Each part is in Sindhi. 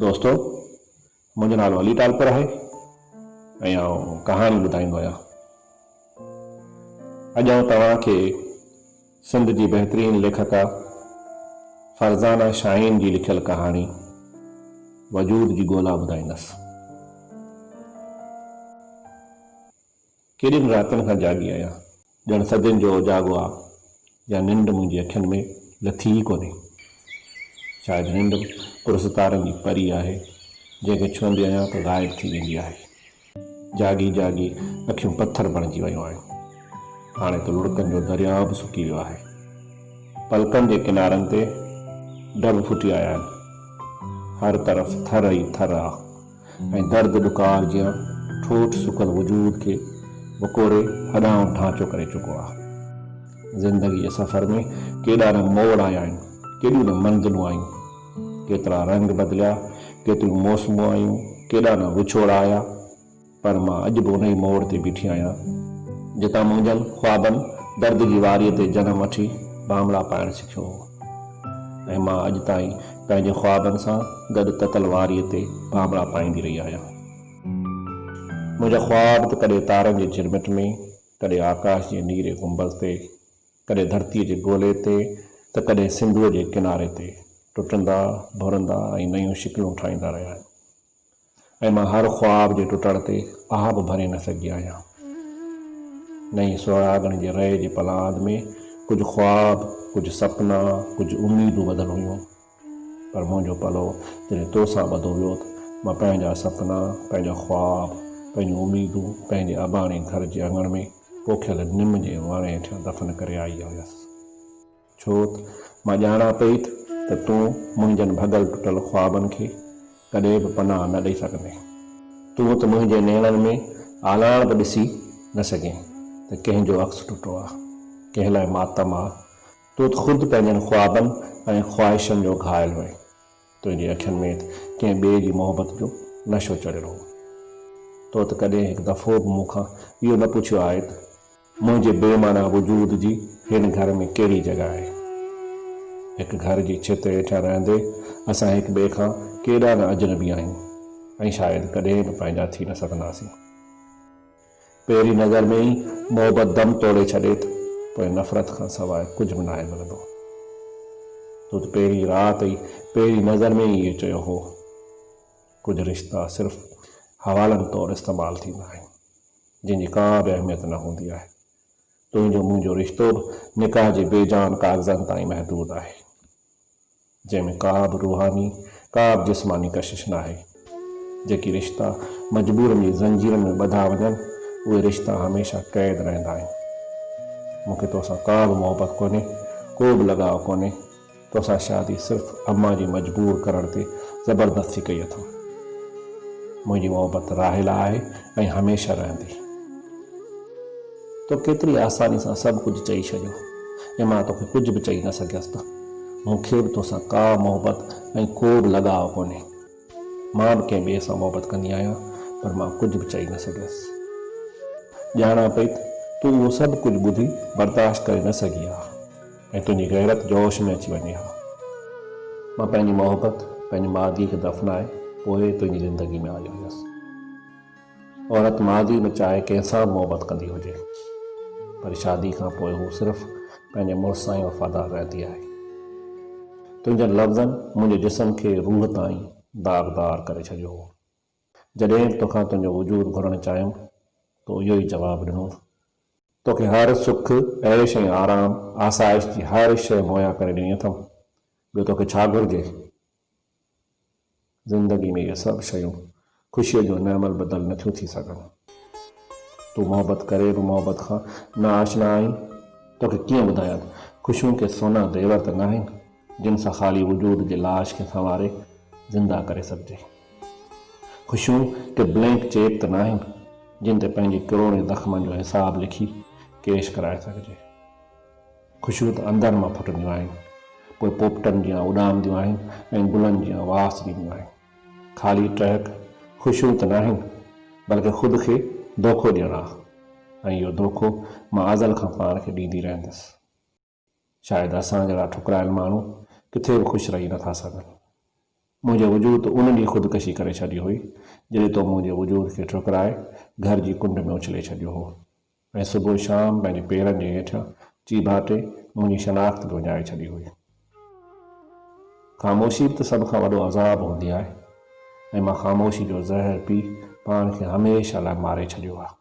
دوستو منهنجو نالو علي ٽالپر آهي ۽ آئون ڪهاڻي ٻڌائيندو آهيان. اڄ آئون توهان کي سنڌ جي بهترين ليکڪا فرزانه شاهين جي لکيل ڪهاڻي وجود جي ڳولا ٻڌائيندس. ڪيڏين راتن کان جاڳي آهيان، ڄڻ صدين جو اوجاڳو آ يا ننڊ منهنجي اکين ۾ لٿي ئي ڪونهي. شايد ننڊ پرستارن جي پري آهي، جنهن کي ڇهندي آهيان ته غائب ٿي ويندي آهي. جاڳي جاڳي اکيون پٿر بڻجي ويون آهن. هاڻي ته لڙڪن جو درياء به سڪي ويو آهي. پلڪن جي ڪنارن تي ڊڀ ڦٽي آيا آهن. هر طرف ٿر ئي ٿر آ. ۽ درد ڏڪار جيان ٺوٺ سڪل وجود کي وڪوڙي هڏائون ڍانچو ڪري چڪو آهي. زندگيء جي سفر ۾ ڪيڏا نه موڙ آيا آهن، ڪيڏيون نه منزلون آيون، ڪيترا رنگ بدليا، ڪيتريون موسمون آيون، ڪيڏا نه وڇوڙا آيا، پر مان اڄ به انهيء موڙ تي بيٺي آهيان، جتان منهنجن خوابن درد جي واريء تي جنم وٺي بامڙا پائڻ سکيو هو. ۽ مان اڄ تائين پنهنجي خوابن سان گڏ تتل واريء تي ڀانڀڙا پائيندي رهي آهيان. منهنجا خواب ته ڪڏهن تارن جي جھرمٽ ۾، ڪڏهن آڪاش جي نيري گنبذ تي، ڪڏهن ڌرتيء جي گولي تي ته ڪڏهن سنڌوء جي ڪناري تي ٽٽندا، ڀرندا ۽ نيون شڪلون ٺاهيندا رهيا آهن. ۽ مان هر خواب جي ٽٽڻ تي آھ به ڀري نه سگهي آهيان. نئين سهراڳڻ جي رئي جي پلاند ۾ ڪجهه خواب، ڪجهه سپنا، ڪجهه اميدون ٻڌل هيون. پر منهنجو پلو جڏهن تو سان ٻڌو ويو ته مان پنهنجا سپنا، پنهنجا خواب، پنهنجون اميدون پنهنجي اباڻي گهر جي اڱڻ ۾ پوکيل نم جي وڻ هيٺيان دفن ڪري آئي هيس. ڇو ته مان ڄاڻان پئي ته تون منهنجن ڀڳل ٽٽل خوابن کي ڪڏهن به پناهه نه ڏئي سگهندين. تون ته منهنجي نيڻن ۾ آلاڻ به ڏسي نه سگهين ته ڪنهن جو عڪس ٽٽو آ، ڪنهن لاء ماتم آ. تون ته خود پنهنجن خوابن ۽ خواهشن جو گهائل هئين. تنهنجي اکين ۾ ته ڪنهن ٻئي جي محبت جو نشو چڙهيل هو. تو ته ڪڏهن هڪ دفعو به مون کان اهو نه پڇيو آهي ته منهنجي بي معنيٰ وجود جي هن گهر ۾ ڪهڙي جڳهه آهي. هڪ گهر جي ڇت هيٺيان رهندي اسان هڪ ٻئي کان ڪيڏا نه اجنبي آهيون ۽ شايد ڪڏهن به پنهنجا ٿي نه سگهنداسين. پهرين نظر ۾ ئي محبت دم توڙي ڇڏي ته پوء نفرت کان سواء ڪجهه به ناهي ملندو. تو ته پهرين رات ۽ پهرين نظر ۾ ئي اهو چيو هو. ڪجهه رشتا صرف حوالن طور استعمال ٿيندا آهن، جن جي ڪا به اهميت نه هوندي آهي. تنهنجو منهنجو رشتو به نڪاح جي بي جان ڪاغذن تائين محدود آهي. جنهن ۾ ڪابه روحاني ڪابه جسماني ڪشش ناهي. جيڪي رشتا مجبورن جي زنجيرن ۾ ٻڌا وڃن اهي رشتا هميشه قيد رهندا آهن. مون کي توسان ڪابه محبت ڪونهي ڪوبه لڳاء ڪونهي توسان شادي صرف امان جي مجبور ڪرڻ تي زبردستي ڪئي اٿم. منهنجي محبت راحيلا آهي ۽ هميشه رهندي. تو ڪيتري آساني سان سڀ ڪجهه چئي ڇڏيو ۽ مان توکي ڪجهه به چئي نه سگهيس ته مون کي به توسان ڪا محبت ۽ ڪوبه لڳاء ڪونهي. مان به ڪنهن ٻئي سان محبت ڪندي آهيان پر مان ڪجهه به چئي نه سگهيس. ڄاڻان پئي ته تون اهو سڀ ڪجهه ٻڌي برداشت ڪري نه سگهي ها ۽ تنهنجي غيرت جوش ۾ اچي وڃي ها. مان پنهنجي محبت پنهنجي ماضيء کي دفنائي پوء تنهنجي زندگي ۾ آيو هيس. عورت ماضي ۾ چاهي ڪنهن سان به محبت ڪندي هجي پر شادي کان پوء هو صرف پنهنجي مڙس سان ئي وفادار رهندي آهي. تنهنجن لفظن منهنجي جسم کي روح تائين داغدار ڪري ڇڏيو هو. جڏهن به توکان تنهنجو وجود گهرڻ چاهيم تو اهو ئي جواب ڏنو ٿو. توکي هر سک، عيش ۽ آرام، آسائش جي هر شيء مهيا ڪري ڏني اٿم. ٻيو توکي ڇا گهرجي؟ زندگي ۾ اهي سڀ شيون خوشيء جو نعم البدل نه ٿيون ٿي سگهن. تون محبت ڪري به محبت کان نا آشنا آهين. توکي ڪيئن ٻڌايان، خوشيون ڪي سونا زيور ته ناهن، جن سان خالي وجود جي لاش کي سنواري زنده ڪري سگهجي. خوشيون ڪي بلينڪ چيڪ ته ناهن، جن تي پنهنجي ڪروڙين زخمن جو حساب لکي ڪيش ڪرائي سگهجي. خوشيون ته اندر مان ڦٽنديون آهن، پوء پوپٽن جيان اڏامنديون آهن ۽ گلن جيان واس ڏينديون آهن. خالي ٽهڪ خوشيون ته ناهن، بلڪه خود کي دوکو ڏيڻ آ ۽ اهو دوکو مان ازل کان پاڻ کي ڏيندي رهندس. شايد اسان جهڙا ٺڪرايل ماڻهو ڪٿي به خوش رهي نٿا سگهن. منهنجي وجود ته ان ڏينهن خودڪشي ڪري ڇڏي هئي، جڏهن تو منهنجي وجود کي ٺڪرائي گهر جي ڪنڊ ۾ اڇلي ڇڏيو هو. ۽ صبح شام پنهنجي پيرن جي هيٺيان چي ڀاتي منهنجي شناخت به وڃائي ڇڏي هئي. خاموشي به ته سڀ کان وڏو عذاب هوندي آهي ۽ مان خاموشي جو زهر پي پاڻ کي هميشه لاء ماري ڇڏيو آهي.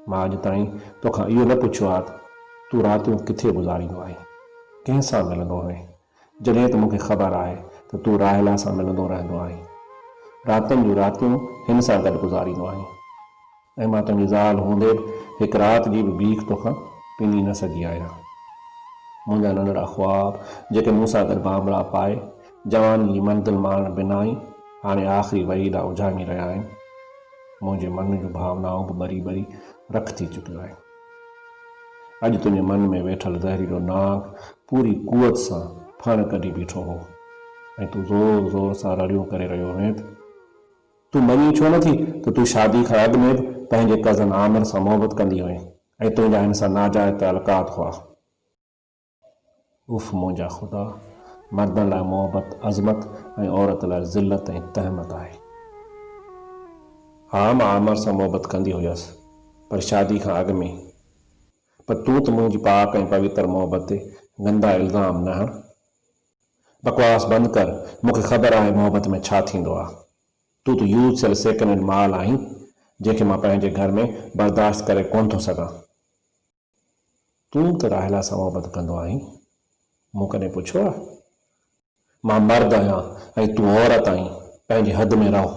مان اڄ تائين توکان اهو نه پڇيو آهي ته تون راتيون ڪٿي گذاريندو آهين؟ ڪنهن سان ملندو هئين؟ جڏهن ته مون کي خبر آهي ته تون راحيلا سان ملندو رهندو آهين. راتين جون راتيون هن سان گڏ گذاريندو آهين ۽ مان تنهنجي زال هوندي به هڪ رات جي به بيک توکان پيني نه سگهي آهيان. منهنجا ننڍڙا خواب جيڪي مون سان گڏ بانبڙا پائي جواني جي منزل ماڻڻ بنا ئي هاڻي آخري وئي ڏانهن اجهامي رهيا آهن. منهنجي من جون ڀاونائون به ٻري ٻري رک ٿي چڪيون آهن. اڄ تنهنجي من ۾ ويٺل زهريلو ناگ پوري قوت سان ڦڻ ڪڍي بيٺو هو ۽ تون زور زور سان رڙيون ڪري رهيو هئين تون مڃي ڇو نٿي ته تون شادي کان اڳ ۾ به پنهنجي ڪزن عامر سان محبت ڪندي هئين ۽ تنهنجا هن سان ناجائز تعلقات هئا. اف منهنجا خدا! مردن لاء محبت عظمت ۽ عورت لاء ذلت ۽ تهمت آهي. ها مان عامر سان محبت ڪندي هيس پر شادي کان اڳ ۾، پر تون ته منهنجي پاڪ ۽ پويتر محبت تي گندا الزام نه هڻ. بڪواس بند ڪر، مون کي خبر آهي محبت ۾ ڇا ٿيندو آهي. تون ته يوز ٿيل سيڪنڊ هينڊ مال آهين جنهن کي مان پنهنجي گهر ۾ برداشت ڪري ڪونه ٿو سگهان. تون ته راحيلا سان محبت ڪندو آهين، مون ڪڏهن پڇيو آهي؟ مان مرد آهيان ۽ تون عورت آهين، پنهنجي حد ۾ رهه.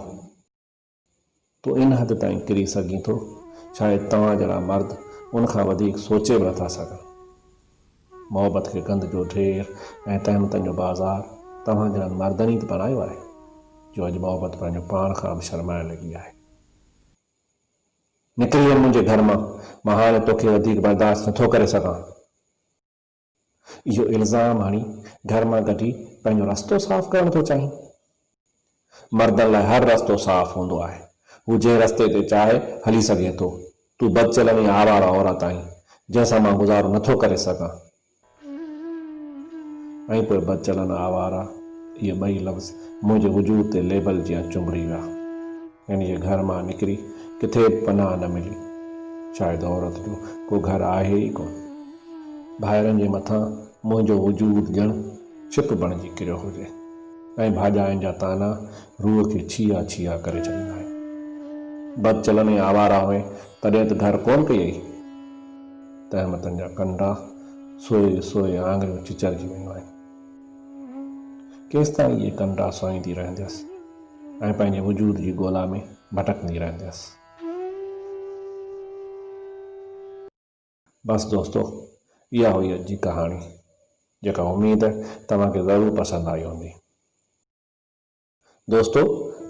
تون ان حد تائين ڪري سگهين ٿو، شايد توهان جهڙا مرد ان کان وڌيڪ سوچي به نٿا سگهن. محبت کي گند جو ڍير ۽ تهمتن جو بازار توهان جهڙن مردن ئي ته بڻايو آهي، جو اڄ محبت پنهنجو پاڻ کان به شرمائڻ لڳي آهي. نڪري وڃ منهنجي گهر مان، مان هاڻي توکي وڌيڪ برداشت نٿو ڪري سگهان. اهو الزام هڻي گهر مان ڪڍي پنهنجو رستو صاف ڪرڻ ٿو چاهين؟ مردن لاء هر رستو صاف هوندو آهي. هو جنهن رستي تي چاهي هلي سگهي ٿو. تون بدچلن ۽ آواره عورت آهين، جنهن سان مان گذارو نٿو ڪري سگهان. ۽ پوء بدچلن آواره اهي ٻئي لفظ منهنجي وجود تي ليبل جيان چنبڙي ويا. يعني جي گهر مان نڪري ڪٿي به پناهه نه ملي. شايد عورت جو ڪو گهر آهي ئي ڪونه. ڀائرن جي مٿان منهنجو وجود ڄڻ ڇپ بڻجي ڪريو هجي ۽ ڀاڄاين جا طعنا روح کي ڇيها ڇيها ڪري ڇڏيندا آهن. بدچلن ۽ آواره هئين تڏهن ته گهر ڪونه ڪيئي. تهمتن جا ڪنڊا سوئي سوئي آڱريون چچرجي ويون آهن. ڪيستائين اهي ڪنڊا سوئيندي رهنديس ۽ پنهنجي وجود جي ڳولا ۾ ڀٽڪندي رهنديس. بس دوستو اها هئي اڄ جي ڪهاڻي جيڪا اميد توهان کي ضرور پسند آئي هوندي. دوستو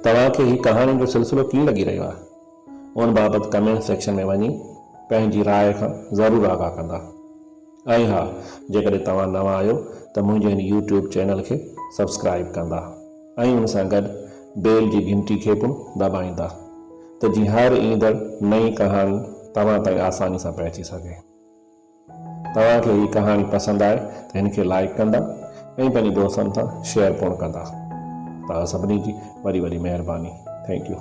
توهان کي هي ڪهاڻين جو سلسلو ڪيئن لڳي رهيو آهي ان بابت ڪمينٽ سيڪشن ۾ وڃي پنهنجي راء کان ضرور آگاهه ڪندا ۽ ها جيڪڏهن توهان نوان آهيو ته منهنجي هن يوٽيوب چينل کي سبسڪرائب ڪندا ۽ ان سان گڏ بيل جي گهنٽي کي پڻ دٻائيندا ته جيئن هر ايندڙ نئين ڪهاڻي توهان تائين آساني سان پهچي سگهي. توهان کي هي ڪهاڻي پسند آئي ته هن کي لائيڪ ڪندا ۽ پنهنجي دوستن سان شيئر پڻ ڪندا توهان سڀني جي وڏي وڏي مهرباني ٿينڪ يو.